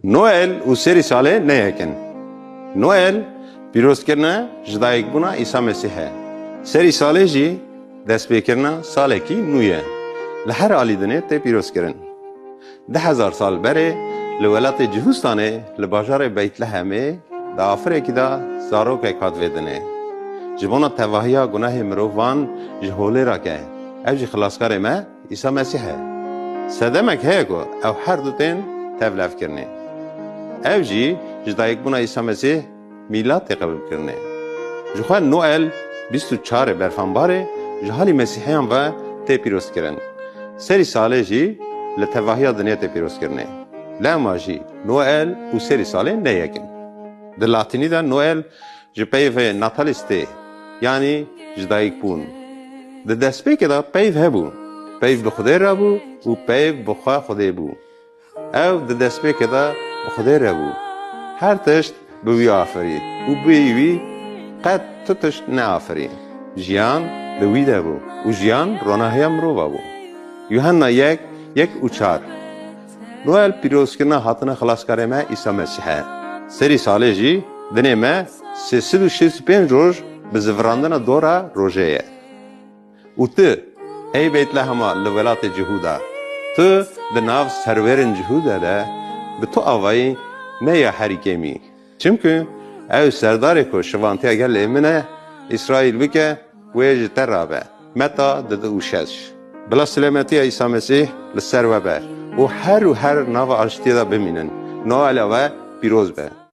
Noel û serî salê ne yek in. Noel pîrozkirina jidayîkbûna Îsa Mesîh e. Serî salê jî destpêkirina salekî nû ye. Li her alî dinê tê pîrozkirin. Di hezar sal berê li welatê Cihûstanê li bajarê Beytlehemê di afirekî de zarokek hat vê dinê. Ji bona tevahiya gunehê mirovan ji holê re ke ev jî xilaskarê me, Îsa Mesîh e. Sedemek heye ku ew her du tên tevlevkirinê. Ev jî ji dayikbûna Îsa Mesîh mîlat tê qebûlkirinê. Ji xwe Noel bîst û çar ê berfanbarê ji halî mesîheyan ve tê pîrozkirin. Serî salê jî li tevahiya dinya tê pîrozkirinê. Lewma jî Noel û serî salê ne yek in. Di latînî de Noel Ji peyvê natalîstê yanî ji dayikbûn di destpêkê de peyv hebû. Peyv bi Xwedê re bû û peyv bi xwe Xwedê bû. Ew di destpêkê de bi Xwedê re bû. Her tişt bi wî afirî û bê wî qet tu tişt neafirî. Jiyan li wî de bû û jiyan ronahiya mirova bû. Yuhanna yek yek û çar. Noel pîrozkirina hatina Xilaskarê me Îsa Mesîh e. Serî salê jî dinê me sê sed û şêst û pênc roj bi zivirandina dora rojê ye. Û tu, ey Beytlehema li welatê Cihûda, tu di nav serwerên Cihûda de bi tu avayî ne ya herî kêmî. Çimkû ew serdarê ku şivantiya gel ê min e, Îsraîl bike, wê ji te rabe. Meta di du û şeş. Bila silemetiya Îsa Mesîh li ser we be û her û her nava aştiyê de bimînin. Noela we pîroz be.